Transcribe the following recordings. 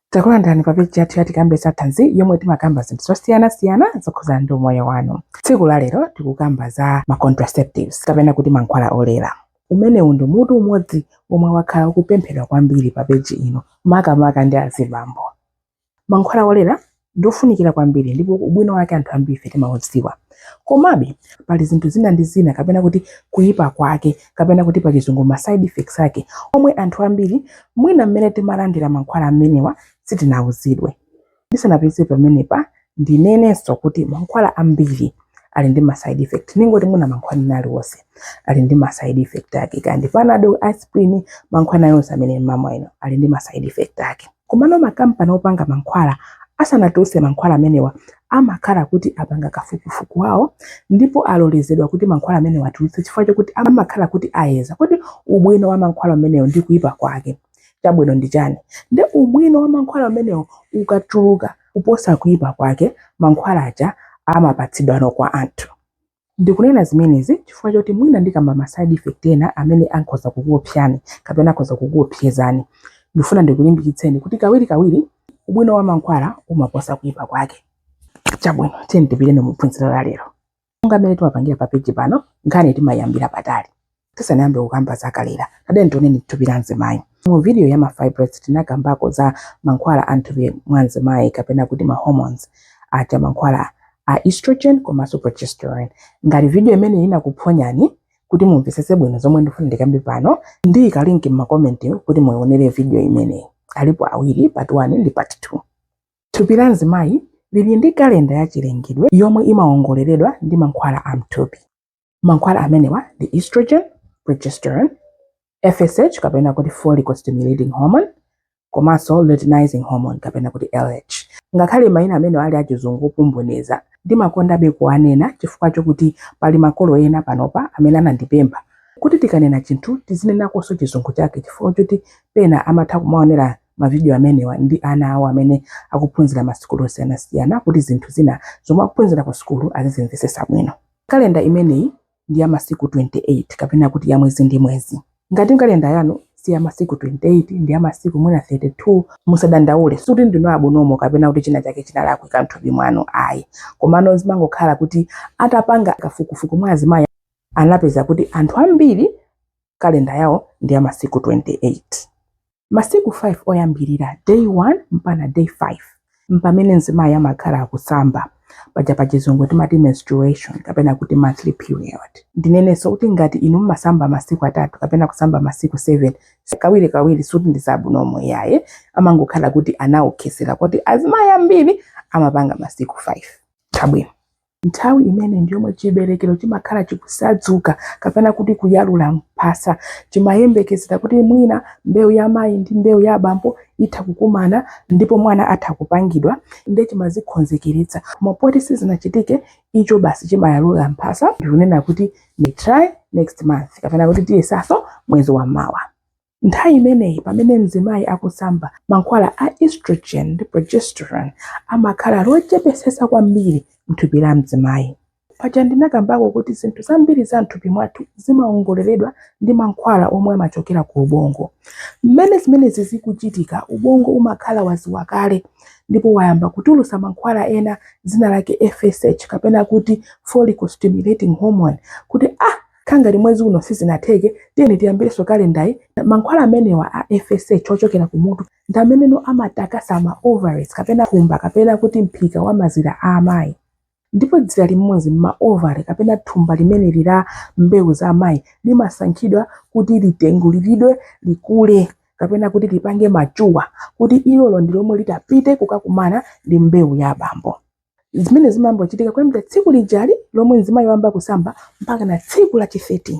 Takulandirani pa peji yathu ya Tikambe za Thanzi yomwe timakamba zinthu zosiyanasiyana zokhudzana ndi umoyo wanu. Tsiku la lero tikukamba za ma contraceptives kapena kuti mankhwala olera. Umenewu ndi mutu umodzi womwe wakhala ukupemphedwa kwambiri pa peji ino makamaka ndi azibambo. Mankhwala olera ndi ofunikira kwambiri ndipo ubwino wake anthu ambirife timaudziwa. Komabe, pali zinthu zina ndi zina kapena kuti kuyipa kwake kapena kuti pachizungu ma side effects ake omwe anthu ambiri mwina mmene timalandira mankhwala amenewa sitinawuzidwe. Ndisanapitirize pamenepa, ndinenenso kuti mankhwala ambiri ali ndi ma side effect ningoti mwina mankhwala ena aliwonse ali ndi ma side effect ake kaya ndi panado aspirin mankhwala ena aliwonse amene mumamwa inu ali ndi ma side effect ake komano makampani opanga mankhwala asanatulutse mankhwala amenewa amakhala kuti apanga kafukufuku wawo ndipo alolezedwa kuti mankhwala amenewa atulutse chifukwa chokuti amakhala kuti ayeza kodi ubwino wa mankhwala amenewo ndi kuyipa kwake chabwino ndi chani ndi ubwino wa mankhwala amenewo ukatuluka Kuposa kuipa kwake, mankhwala aja amapatsidwano kwa anthu. Ndikunena zimenezi chifukwa choti mwina ndikamba ma side effect ena amene ankhoza kukuopsyani kapena akhoza kukuopsyezani, ndikufuna ndikulimbikitseni kuti kawirikawiri ubwino wa mankhwala umaposa kuipa kwake. Chabwino, tiyeni tipite mu phunziro la lero. monga mmene timapangira pa peji pano nkhani timayambira patali tisanayambe kukamba za kulera tiyeni tione thupi la mzimayi mu video ya ma fibroids tinakambako za mankhwala a mthupi mwa mzimayi kapena kuti ma hormones aja mankhwala a estrogen komanso progesterone ngati video imeneyi inakuphonyani kuti mumvetsetse bwino zomwe ndifuna ndikambe pano ndiyika linki m'makomenti kuti muionere video imeneyi alipo awiri part 1 ndi part 2 Thupi la mzimayi lili ndi kalenda ya chilengedwe yomwe imawongoleredwa ndi mankhwala a mthupi. Mankhwala amenewa ndi estrogen, progesterone, FSH kapena kuti follicle stimulating hormone komanso luteinizing hormone kapena kuti LH. Ngakhale mayina amenewa ali achizungu opomboneza, ndimakondabe kuwanena chifukwa chokuti pali makolo ena panopa amene anandipempha kuti tikanena chinthu tizinenakonso chizungu chake chifukwa choti pena amatha kumaonera mavidiyo amenewa ndi ana awo amene akuphunzira masukulu osiyanasiyana kuti zinthu zina zomwe akuphunzira ku sukulu azizimvetsetsa bwino. Kalenda imeneyi ndi ya masiku 28 kapena kuti ya mwezi ndi mwezi. Ngati kalenda yanu si ya masiku 28 ndi ya masiku mwina 32, musadandaule sikuti ndinu abnormal kapena kuti china chake chinalakwika m'thupi mwanu ayi. Komano zimangokhala kuti atapanga kafukufuku mwa azimayi anapeza kuti anthu ambiri kalenda yawo ndi ya masiku 28. Masiku 5 oyambirira, day 1 mpakana day 5, mpamene mzimayi amakhala akusamba. Paja pa chizungu timati menstruation kapena kuti monthly period. Ndinenenso kuti ngati inu mumasamba masiku atatu kapena kusamba masiku 7, kawirikawiri sikuti ndi zabwinobwino iyaye, amangokhala kuti anawonkhetsera kuti azimayi ambiri amapanga masiku 5. Chabwino. Nthawi imeneyi ndi yomwe chiberekero chimakhala chikutsadzuka kapena kuti kuyalula mphasa. Chimayembekezera kuti mwina mbewu ya mayi ndi mbewu ya abambo itha kukumana ndipo mwana atha kupangidwa ndiye chimazikonzekeretsa. Koma poti sizinachitike, icho basi chimayalula mphasa ndikunena kuti we try next month kapena kuti tiyesanso mwezi wamawa. Nthawi imeneyi pamene mzimayi akusamba, mankhwala a estrogen ndi progesterone amakhala ali ochepetsetsa kwambiri mthupi la mzimayi. Paja ndinakambako kuti zinthu zambiri za mthupi mwathu zimaongoleredwa ndi mankhwala omwe amachokera ku ubongo. Mmene zimenezi zikuchitika ubongo umakhala wadziwa kale ndipo wayamba kutulutsa mankhwala ena dzina lake FSH kapena kuti follicle stimulating hormone kuti ah! Kaya ngati mwezi uno sizinatheke, tiyeni tiyambirenso kalendayi. Mankhwala amenewa a FSH ochokera kumutu ndi ameneno amatakasa ma ovaries kapena thumba kapena kuti mphika wa mazira a amayi. Ndipo dzira limodzi m'ma ovary kapena thumba limeneli la mbewu za amayi limasankhidwa kuti litenguliridwe likule kapena kuti lipange mature kuti ilolo ndi lomwe litapite kukakumana ndi mbewu ya abambo. zimenezi zimayamba kuchitika kuyambira tsiku lijali lomwe mzimayi wayamba kusamba mpakana tsiku la chi 13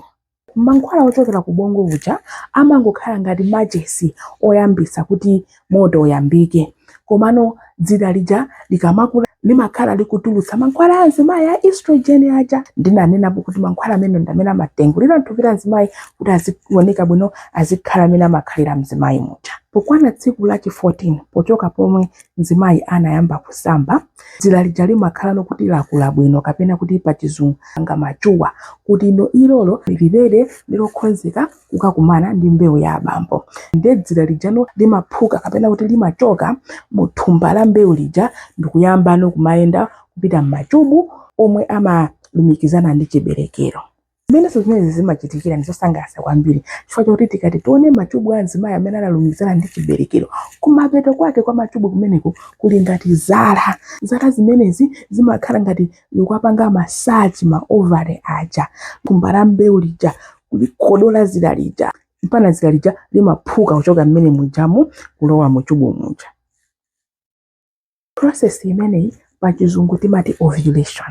mankhwala ochokera ku ubongo uja amangokhala ngati machesi oyambitsa kuti moto uyambike komano dzira lija likamakula limakhala likutulutsa mankhwala a mzimayi a estrogen aja ndinanenapo kuti mankhwala amenewa ndamene amatengulira thupi la mzimayi kuti azioneka bwino azikhala mmene amakhalira mzimayi muja pokwana tsiku la chi 14 pochoka pomwe mzimayi anayamba kusamba dzira lija limakhalano kuti lakula bwino kapena kuti pachizungu lapanga mature kutino ilolo lililere lokonzeka kukakumana ndi mbewu ya abambo nde dzira lijano limaphuka kapena kuti limachoka mu thumba la mbewu lija ndikuyambano kumayenda kupita m'machubu omwe amalumikizana ndi chiberekero Mmenenso zimenezi zimachitikira ndi zosangalatsa kwambiri chifukwa chakuti tikati tione machubu a mzimayi amene analumikizana ndi chiberekero, kumapeto kwake kwa machubu kumeneko kuli ngati zala. Zala zimenezi zimakhala ngati zikuwapanga massage ma ovary aja, thumba la mbewu lija, kulikodola dzira lija mpakana dzira lija limaphuka kuchoka mmenemujamu kulowa mu chubu muja. process imeneyi pa chizungu timati ovulation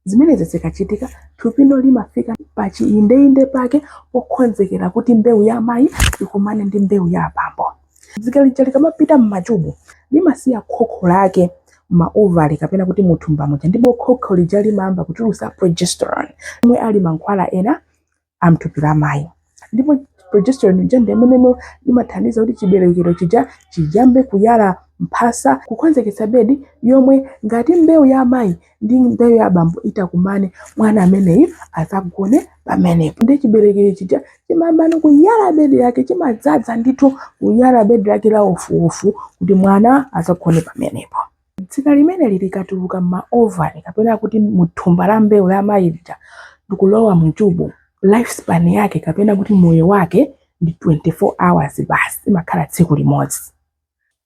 zimenezi zikachitika thupino limafika pa chiindeinde pake pokhonzekera kuti mbewu ya amayi ikumane ndi mbewu ya abambo dzira lija likamapita m'machubu limasiya khokho lake m'ma ovary kapena kuti muthumba muja ndipo khokho lija limayamba kutulusa progesterone omwe ali mankhwala ena a m'thupi la mayi ndipo progesterone ija ndi imene imathandiza kuti chiberekero chija chiyambe kuyala mphasa kukhonzeketsa bedi yomwe ngati mbewu ya amayi ndi mbewu ya abambo itakumane mwana ameneyu adzagone pamenepo nde chiberekero chija chimayambano kuyala bedi lake chimadzadza ndithu kuyala bedi lake la wofuwofu kuti mwana adzagone pamenepo Dzira limeneli likatuluka m'ma ovary kapena kuti mu thumba la mbewu la amayi lija ndikulowa mu chubu, life span yake kapena kuti moyo wake ndi 24 hours basi, imakhala tsiku limodzi.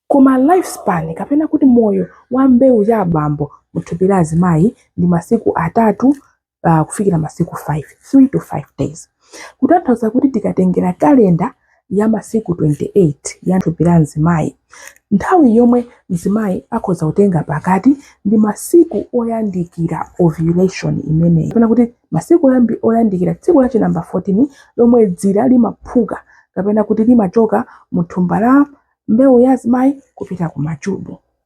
Koma life span kapena kuti moyo wa mbewu ya abambo mu thupi la azimayi ndi masiku atatu uh, kufikira masiku 5 3 to 5 days kutanthauza kuti tikatengera kalenda ya masiku 28 ya thupi la mzimayi nthawi yomwe mzimayi akhoza kutenga pakati ndi masiku oyandikira ovulation imeneyi kapena kuti masiku oyandikira tsiku la chinamba 14 lomwe dzira limaphuka kapena kuti limachoka mu thumba la mbewu ya mzimayi kupita ku machubu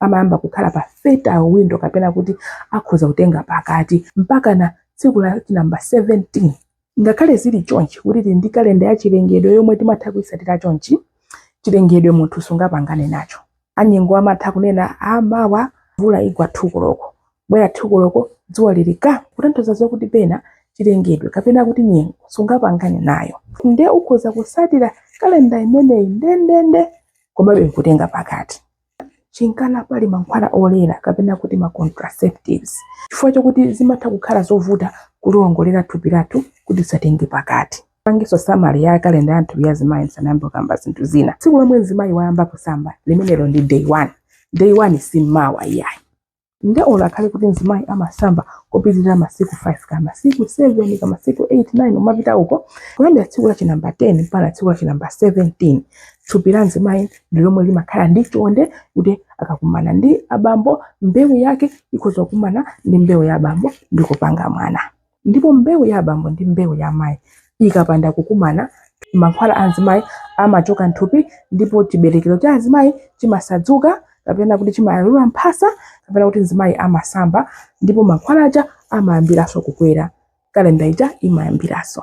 amayamba kukhala pa fertile window kapena kuti akhoza kutenga pakati mpakana tsiku la namba 17 ngakhale zili chonchi kuti tili ndi kalenda ya chilengedwe yomwe timatha kuyitsatira chonchi chilengedwe munthu sungapangane nacho anyengo amatha kunena amawa mvula igwa 2 koloko bwera 2 koloko dzuwa lili ka kutanthauza zokuti pena chilengedwe kapena kuti nyengo sungapangane nayo nde ukhoza kusatira kalenda imeneyi ndendende komabe nkutenga pakati nchifukwa chake pali mankhwala olera kapena kuti ma contraceptives chifukwa chokuti zimatha kukhala zovuta kuliwongolera thupi lathu kuti tisatenge pakati ndipangenso summary ya kalenda ya m'thupi ya azimayi ndisanayambe kukamba zinthu zina tsiku lomwe mzimayi wayamba kusamba limenelo ndi day one day one si mmawa iyayi nde olo akhale kuti mzimayi amasamba kupitirira masiku 5 ka masiku 7 ka masiku 8 9 kumapita uko kuyambira tsiku la chinamba 10 mpaka tsiku la chinamba 17 thupi la mzimayi ndi lomwe limakhala ndi chonde kuti akakumana ndi abambo mbewu yake ikhoza kukumana ndi mbewu ya abambo ndi kupanga mwana ndipo mbewu ya abambo ndi mbewu ya amayi ikapanda kukumana, mankhwala a mzimayi amachoka m'thupi ndipo chiberekero cha azimayi chimasadzuka kapena kuti chimayalula mphasa kapena kuti mzimayi amasamba ndipo mankhwala aja amayambiranso kukwera, kalenda ija imayambiranso.